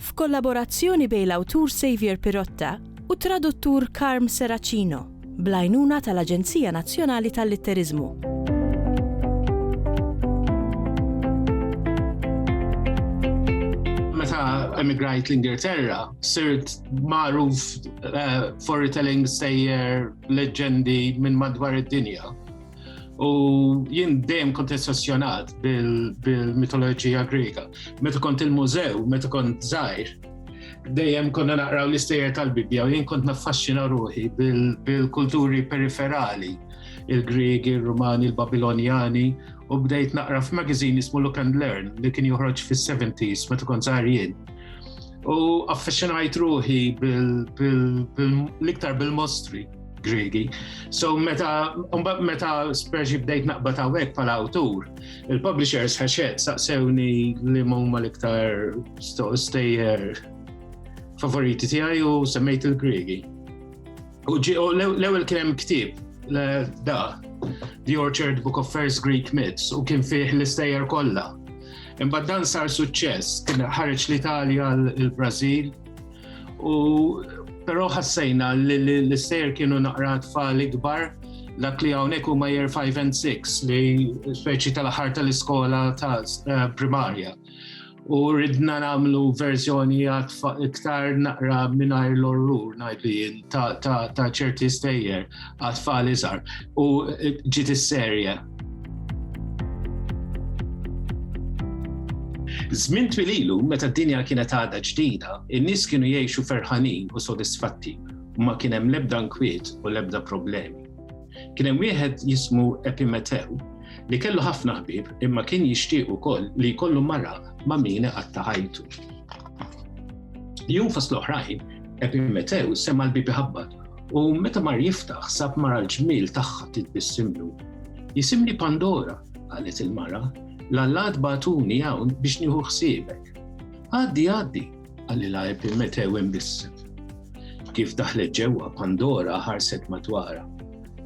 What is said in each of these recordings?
f'kollaborazzjoni bejn l-awtur Saviour Pirotta u t-traduttur Carm Serracino, bl-għajnuna tal-Aġenzija Nazzjonali tal-Litteriżmu. emigrajt l-Ingilterra, sirt magħruf uh, eh, for retelling sejjer leġendi minn madwar id-dinja. U jien dejjem kont essessjonat bil-mitoloġija Griega. Meta kont il-mużew, meta kont żgħir, dejjem konna naqraw l-istejjer tal-Bibja u jien kont naffaxxina ruħi bil-kulturi periferali, il-Griegi, il-Rumani, il-Babilonjani, u bdejt naqra f'magazin ismu Look and Learn li kien joħroġ fis-70s meta kont żgħir jien u affascinajt ruħi bil-iktar bil-mostri. Gregi. So meta mbagħad meta speċi bdejt naqbad hawnhekk bħala awtur, il-publishers ħaxet saqsewni li huma l-iktar stejjer favoriti tiegħi u semmejt il-Gregi. U l-ewwel kien hemm ktieb da The Orchard Book of First Greek Myths u kien fih l-istejjer kollha. Imbagħad dan sar suċċess, kien ħareġ l-Italja, l-Brażil, U però ħassejna li l-sejr kienu naqra tfal ikbar dak li hawnhekk huma year 5 and 6 li speċi tal-aħħar tal-iskola ta' eh, primarja. U ridna nagħmlu verżjoni iktar naqra mingħajr l-orrur ngħidlu jien ta' ċerti stejjer għat-tfal iżgħar. U ġiet is-serje Żmien twil ilu, meta d-dinja kienet għadha ġdida, in-nies kienu jgħixu ferħanin u sodisfatti u ma kien hemm l-ebda nkwiet u l-ebda problemi. Kien hemm wieħed jismu Epimetew li kellu ħafna ħbieb imma kien jixtieq ukoll li jkollu mara ma' min iqatta' ħajtu. Jum fost l-oħrajn, Epimetew sema l-bibi ħabbat u meta mar jiftaħ sab mara l-ġmiel tagħha titbissimlu. Jisimni Pandora, qalet il-mara, l-allat batuni hawn biex nieħu ħsiebek. Għaddi, għaddi, għalli lajb il-metew imbissem. Kif daħlet ġewwa Pandora ħarset madwara.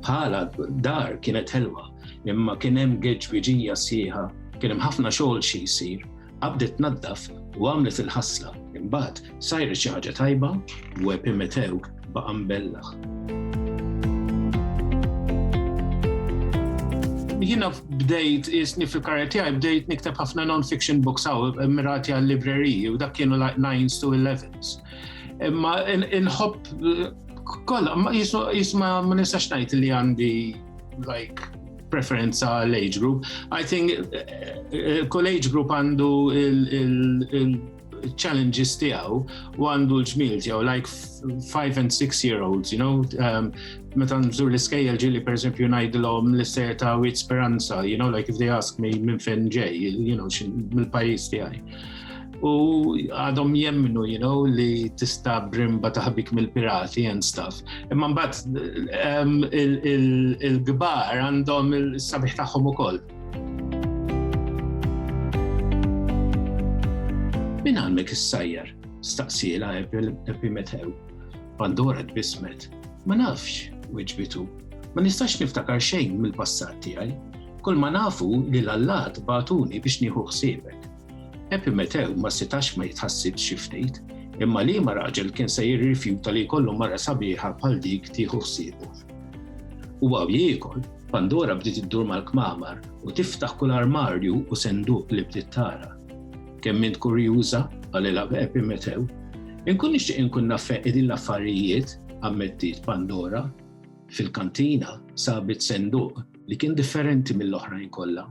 Bħala dar kienet ħelwa, imma kien hemm geġwiġija sieħa, kien hemm ħafna xogħol xi jsir Qabdet tnaddaf u għamlet il-ħasla, imbagħad sajret xi ħaġa tajba u Epimetew baqa' mbellaħ. Jiena bdejt isni fil-karrier tiegħi bdejt nikteb ħafna non-fiction books hawn mirati għall-libreriji u dak kienu like 9s to 11s. Imma inħobb kollha jisma' ma nistax ngħid li għandi like preferenza għal age group. I think eh, eh, kull age group għandu il-challenges tiegħu u għandu l-ġmil tiegħu, like 5 and 6 year olds, you know, um, meta nżur l-iskejjel ġili per esempio ngħidilhom l-ister ta' wit speranza, you know, like if they ask me minn fejn ġej, you know, mill-pajjiż tiegħi. u għadhom jemmnu, you know, li tista brimba taħbik mill-pirati and stuff. Imma mbagħad ehm, il-gbar għandhom il-sabiħ tagħhom ukoll. Min għalmek is-sajjar? Staqsila epi metew. Pandora tbismet. Ma nafx, wieġbitu. Ma nistax niftakar xejn mill-passat tiegħi. Kull ma nafu li l-allat batuni biex nieħu ħsiebek. Epimetew ma setax ma jitħassibx xi ftit, imma liema raġel kien se jirrifjuta li jkollu mara sabiħa bħal dik tieħu ħsiebu. U għaw jiekol, Pandora bdiet iddur mal-kmamar u tiftaħ kull armarju u senduq li bdiet tara. Kemm int kurjuża, qalilha Epimetew, inkun nixtieq inkun naf qegħdin l-affarijiet, ammettiet Pandora. Fil-kantina sabit senduq li kien differenti mill-oħrajn kollha